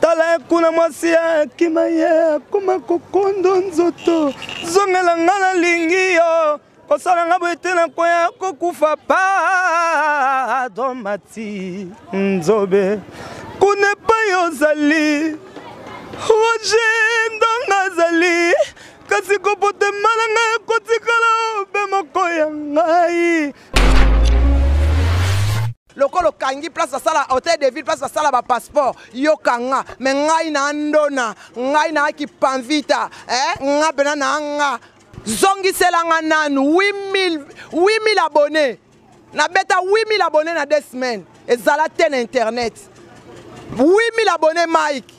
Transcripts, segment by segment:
tala kuna mwasi ya akima ye akoma kokondo nzoto zongela nga nalingi yo kosala nga boye te nakoya kokufa pardon mati nzobe kuna epai ozali roje ndonga azali kasi kopotema na ngai ekotikala obe moko ya ngai lokola okangi place basala hotel de ville place basala ba passeport yo kanga me ngai na ndona ngai na kipanvita eh, nga pena na nga zongisela nga nanu 8000 abonne nabeta 8000 abonne na deux semaines ezala te na internet 8000 abonne mike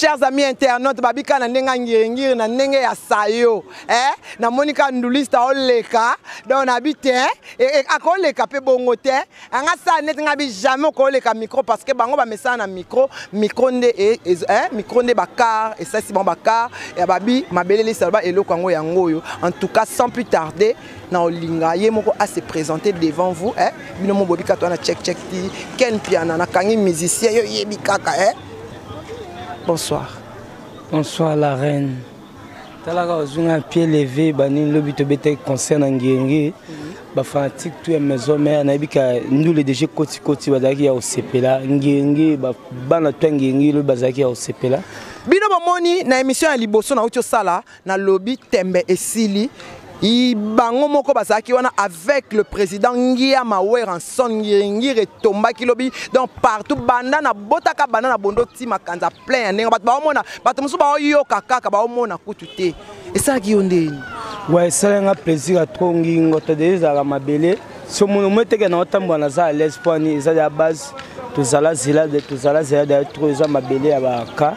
chers amis internautes babika na ndenge ya ngiringiri na ndenge ya sayo eh? namoni ka nduliste aoleka donc nabi te eh? e, e, akoleka mpe bongo te anga sala neti ngai bi jamais okoleka micro parce que bango bamesana na micro micro nde e, e, eh? micro nde bakar esalisi bango bakar ya babi mabele lisaloba eloko yango yango oyo en tout cas sans plus tarder na olinga ye moko a se présenter devant vous eh bino mo bobi katwa na check check ti ken piana na kangi musicien yo yebi kaka eh bonsoir bonsoir la reine talaka ozunga pied levé bani lobi to bete concert na ngenge ba fanatique tout ya maison mère na bika ndule déjà koti koti bazaki ya osepela ngenge ba bana to ngenge lobi bazaki ya osepela bino bomoni na émission ya liboso na uti osala Na lobi tembe esili. Bango moko bazalaki wana avec le président Ngiama Weranson Ngiri Ngiri etombaki lobi donc partout banda na botaka banda na bondo ti makanza plein ya ndenge bato baomona bato mosusu baoyoka kaka baomona kutu te esalaki yo ndeni wa esalanga plaisir ya trop ngingo to de ezalaka mabele somono omo eteke na otambola naza à l'aise mpo ani eza ya base tozala zela tozala zela da tro eza mabele ya baka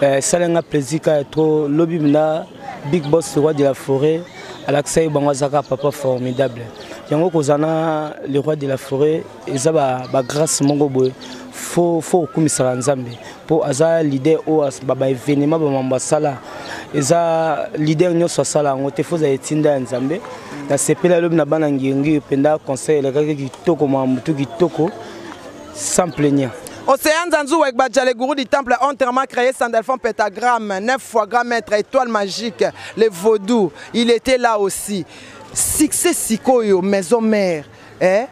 eh, sala nga plaisir ka ya tro lobi mna big boss le roi de la forêt alakisa ye bango azaka papa formidable yango kozala na le roi de la forêt eza bagrace ba moko boye fo okumisaka nzambe mpo aza leader oyo ba evenema bamambo asala eza leader nyonso asala yango te foza etinda ya nzambe nasepeli alobi na bana ngiyongiyo mpenza conseil elekaki kitoko mamutu kitoko sans plaignant Océan Zanzou avec Badjale Gourou du temple entièrement créé Sandalfon Pentagramme, 9 fois grand maître, étoile magique, le vaudou, il était là aussi. Succès Sikoyo, maison mère, eh?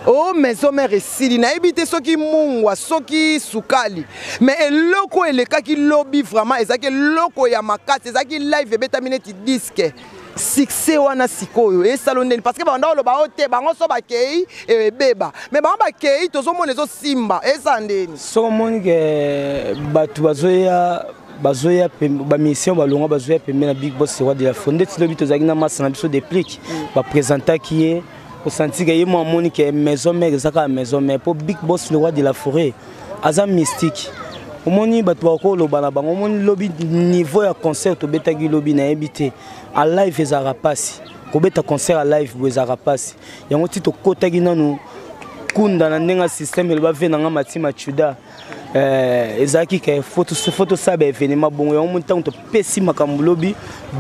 o oh, maison mère esili nayebi te soki mungwa soki sukali me eloko oyo elekaki lobi vraiment ezalaki eloko ya makasi ezalaki live ebetami neti diske succès wana sikoyo esalo ndeni parce que banda oloba o te bango so bakei eh, ebeba me bango bakei tozomona ezosimba eza ndeni soko omoni ke eh, bato bazoya bazoya bamisien balongwa bazoya pembe na big boss roi de la fondete lobi tozalaki na masa na biso deplique mm. bapresentaki ye osanti ke ye mo amoni ke maison mère eza kaka maison mère mpo big boss le roi de la forêt aza mystique omoni bato bakoloba na bango omoni lobi niveau ya concert tobetaki lobi nayebi te a live ezalaka mpasi kobeta concert a live boye ezalaka mpasi yango ti tokotaki nanu kunda na ndenge ya systeme eloba ve na ngai mati machuda Eh, ezalaki ke fo tosala baevenema bongo yango moni ntango topesi makambo lobi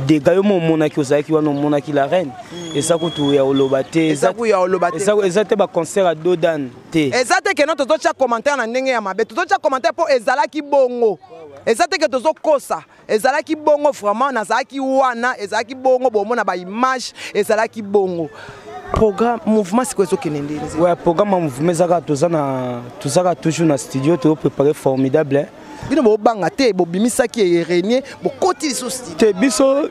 dega yo mo omonaki ozalaki wana omonaki la reine mm. eza kutu ya oloba te eza te baconcert ya dodan te eza te keno tozotya commentaire na ndenge ya mabe tozotya commentaire mpo ezalaki bongo eza te ke tozokosa ezalaki bongo vraiment nazalaki wana ezalaki bongo bomona ba image ezalaki bongo programme mouvement sikoyo ezokende nde ouais programme ya mouvement ezaka toza na tozaka toujours na studio toyo préparé formidable hein. bino bobanga te bobimisaki eye renie bokoti lisusu studio te biso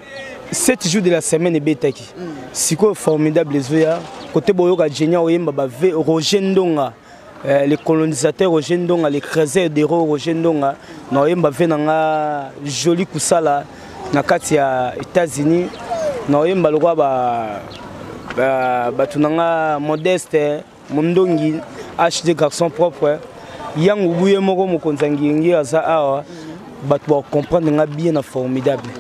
7 jours de la semaine ebetaki mm. sikoyo formidable ezoya kote boyoka genia oyemba ba roger ndonga Euh, le colonisateur Roger Ndonga, le creuser de ro Roger Ndonga, na oyemba ve na nga joli kusala na kati ya États-Unis, na oyemba lokwa ba ba batu na nga modeste mondongi HD garçon propre yango buye moko mokonza ngiyengi aza awa bato ba comprendre nga bien na formidable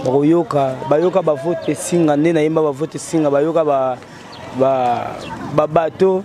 bakoyoka bayoka bavote singa nde nayemba bavote singa bayoka ba ba babato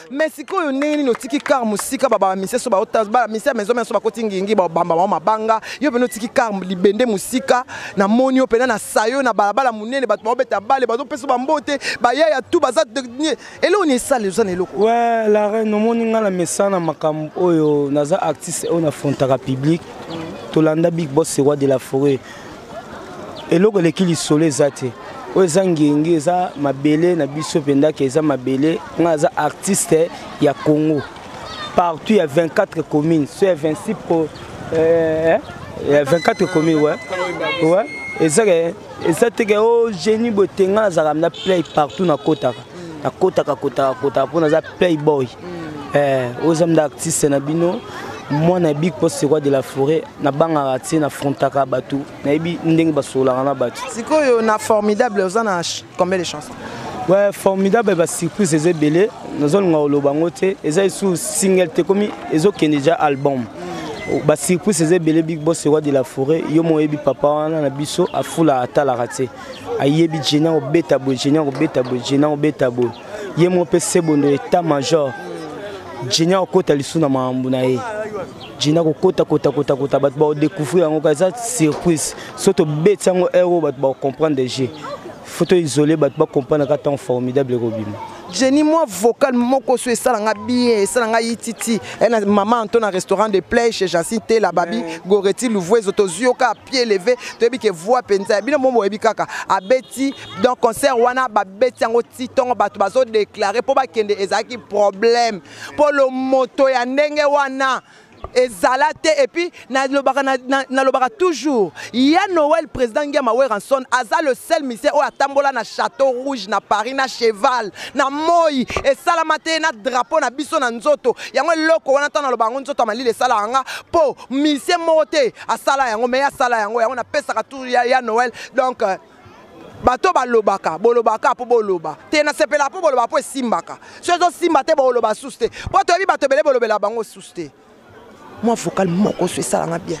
Mais sikoyo ndenge nini otiki car musika ba ba mise so ba otas ba mise ya maison maison bakoti ngingi ba bamba ba mabanga yo pena otiki car libende musika na moni yo pena na sayo na balabala munene bato ba obeta bale bazo pesa ba mbote ba ya ya tout baza eloko ni esale oza na eloko ouais la reine omoni nga na mesana makambo oyo naza artiste oyo na frontaka public tolanda big boss roi de la forêt eloko eleki lisolo eza te oyo eza ngenge eza mabele na biso mpendaka eza mabele ngai aza artiste ya congo partout ya 24 communes so ya 26 po, eh, ya 24 communes ouais. Ouais. eza ke eza te ke o oh, génie boye te ngai nazalaka na play partout nakotaka nakotaka kotaka kotaka mpo naza playboy mm. eh, oza mda artiste na bino mwana ya big poste roi de la forêt nabangaka te nafrontaka bato nayebi ndenge basololaka na bato sikoyo na formidable oza na combien de chanson ouais, formidable basurprise eza ebele nazolinga koloba yango te eza esu single te komi ezokende deja album mm. basurprise eza ebele big boss roi de la forêt yo moyebi papa wana na biso afula atalaka te ayebi jeni akobeta boye jeni akobeta boye jeni akobeta boye ye moko mpe sebondo etat major jeni akokota lisusu na makambo na ye jeni akokota kotakotakota bato bakodecouvrir yango ka eza surprise so tobeti yango heure oyo bato bakocomprendre jeu faut to isole bato bacomprendre ka ntango formidable ekobima Jenny moi vocal moko so esala nga bien esala nga yititi elle eh, maman Anto na restaurant de play chez Jacinthe Tela Babi Goretti Louvuezo tozuyoka pied levé toyebi ke voix penza bino momo yebi kaka abeti donc concert wana babeti yango titongo bato bazo déclarer po bakende ezalaki problème po lo moto ya ndenge wana ezala te et puis nalobaka na, na, nalobaka toujours ya noel président ngiama weranson aza le seul musicien oyo atambola na château rouge na paris na cheval na moi esalama te na drapeau na biso na nzoto yango eloko wana ntango naloba yango nzoto ya malili esalaka nga mpo musicien moko te asala yango mais asala yango yango napesaka tour ya, ya noel donc euh, bato balobaka bolobaka mpo boloba te nasepelaka mpo boloba mpo esimbaka so ezosimba te boloba susu te mpo toyebi bato ebele bolobela bango susu te mwa vocal moko so esalanga bien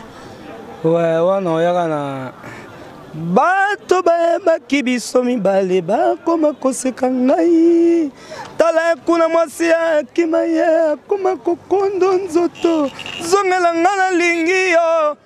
we wana oyaka na bato bayebaki biso mibale bakoma koseka ngai tala kuna mwasi ya akima ye akoma kokondo nzoto zongela ngai nalingi yo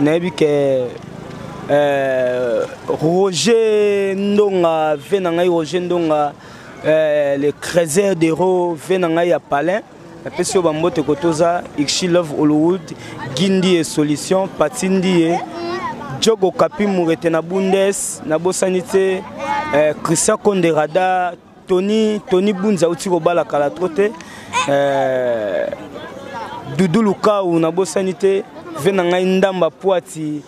nayebi ke euh, roger ndonga vie na ngai roger ndonga euh, le creuser dero vie na ngai ya palin napesi yo bambote kotoza ixi love hollywood gindi ye solution pati ndi ye jogo kapi murete na bundes nabosani te euh, christian konde radar Tony Tony Bunzi auti kobala kala trop te euh, Doudou Lukau nabosani te ve na ngai ndamba poati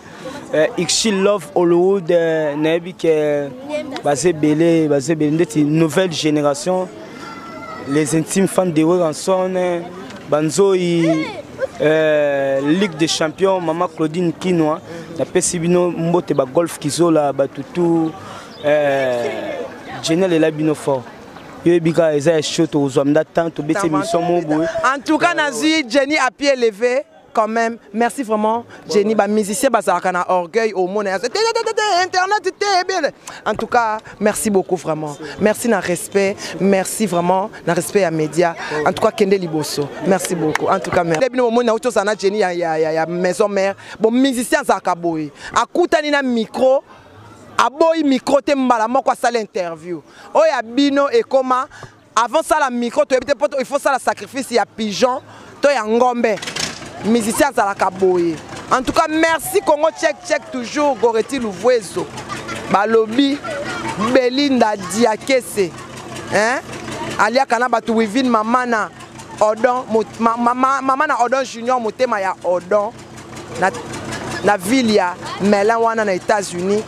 euh, Ixi Love Hollywood euh, nayebi ke baza ebele baza ebele ndeti nouvelle génération les intimes fans de Weranson banzoi euh, Ligue des champions mama Claudine Kinwa napesi bino mbote ba golf kizola batutu eh, jeni alela bino fort yo yebi kaka eza ya show tokozwa mda temps tobeti émission moko boye en tout cas nazwi jenny à pied levé quand même merci vraiment jenny bamusicien bazalaka na orgueil omona yaso internet te ebele en tout cas merci beaucoup vraiment merci na respect merci vraiment na respect ya média en tout cas kende liboso merci beaucoup en tout cas merci bino bomoni nauti ozala na jenny ya maison mère bon musicien azalaka boye akutani na micro aboyi micro te mbala moko asala interview oyo ya bino ekoma avant sala micro toyebi te mpo il faut sala sacrifice ya pigeon to ya ngombe musicien azalaka boye en tout cas merci congo check check toujours goreti luvuezo balobi belinda diakese hein? aliaka na bato wivine mamana odon mamana odon junior motema ya odon na, na ville ya melin wana na états-unis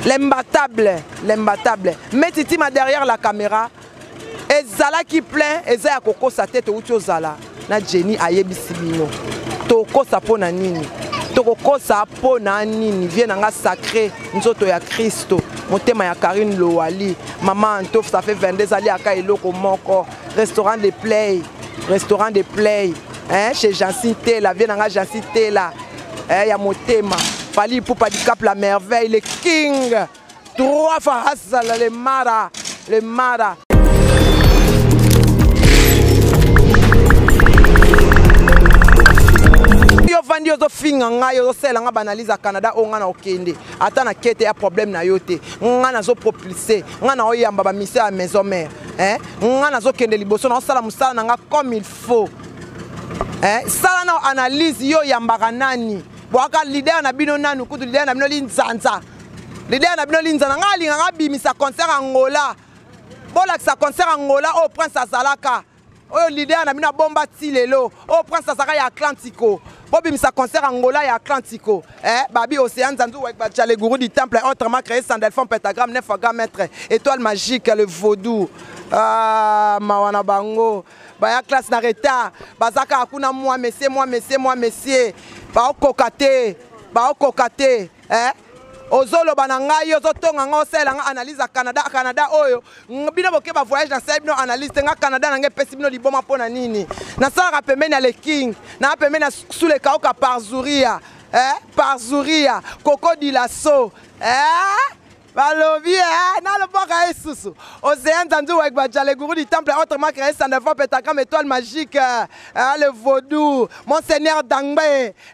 l'imbattable l'imbattable mais titima derrière la caméra ezalaki plein eza ya kokosa te touti ozala na jenny ayebisi bino tokosa mpo na nini tokokosa mpo na nini vie na nga sacré nzoto ya kristo motema ya karine lowali mama antof ça fait 22 ezali aka eloko moko restaurant de play restaurant de play hein, chez jansi tela vie na nga jansi tela eh, ya motema fali ipupa dicap la merveille le king trois fois hasala le mara le mara yo vandi ozofinga ngai ozosala ngai baanalyse ya canada oyo ngai na okende ata na kete ya problème na yo te ngai nazopropulse ngai na oyamba bamisio ya maison mare eh, nga nazokende liboso naosala mosala na nga comme il faut eh, sala nao analyse yo oyambaka nani bwaka lidere na bino nanu kutu lidere na bino linzanza lidere na bino linzanza ngai alingaka abimisa concert angola bolakisa concert angola oyo prince azalaka oyo leader na bino abomba ti lelo oyo prince azalaka ya atlantico bobimisa concert angola ya atlantico eh, babi océan zanzu wekbacha le gourou du temple autrement créé sandelfon pentagramme nefa grand maître étoile magique le vaudou ah, mawa na bango baya classe na retard baza kaka kuna mwa messie mwa messie mwa messie baokoka te baokoka te eh? ozoloba na ngai ozotonga ngai osalela ngai analyse ya canada canada oyo bino boke ba voyage nasali bino analyse te ngai canada na ngai epesi bino liboma mpo na nini nasalaka pembeni ya le king naa pembeni ya sulekauka parzuria eh? parzuria koko dilaso eh? balobi e eh, nalobaka ye susu ozeya nzanzi wegba jaleguru du temple autrement créé ça ne va petagram étoile magique eh, eh, le vaudou monseigneur dangbe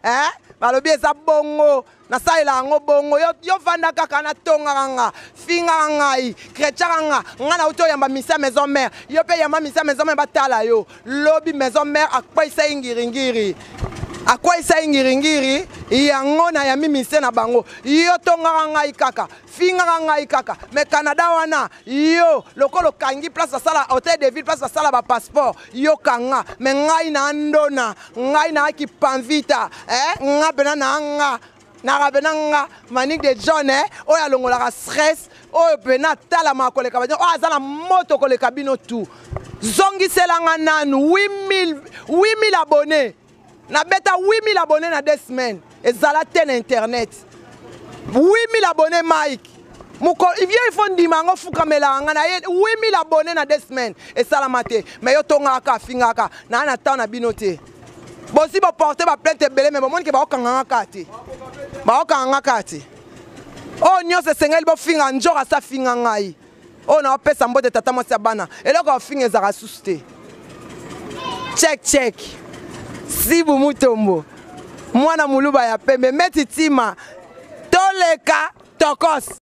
eh, balobi eza bongo nasalela yango bongo yo, yo vanda kaka natongaka nga fingaka ngai kretiaka nga ngai nauti oyamba misia maison mare yo mpe yamba misia maison mare batala yo lobi maison mère akweisa ye ngiringiri akweisa ye ngiringiri yango na yami misie na bango yo tongaka ngai kaka fingaka ngai kaka me canada wana yo lokola okangi place basala hotel de ville place basala bapasseport yo kanga me ngai na ndona ngai na kipanvita eh, nga mpena na nga na rabena nga manique de john eh, oyo alongolaka stress oyo pena atalamaka koleka bino oyo aza na moto koleka bino tu zongisela nga nanu 8000 abonne nabeta 8000 abonne na deux semaines ezala te na internet 8000 abonne mike moko vio ifo ndima yango fukamelaka ngai na ye 8000 abonne na deux semaines esalama te mai yo tongaka afingaka naa na temps na bino te bosi boporte baplainte ebele me bomoni ke baokanganga kaka te baokanganga kaka te oyo nyonso esengeli bofinga njor asa finga ngai oyo naopesa mbote tata mwasi ya bana eloko ya ofinga ezalaka susu te check check sibu mutombo mwana moluba ya pembe meti tima toleka tokos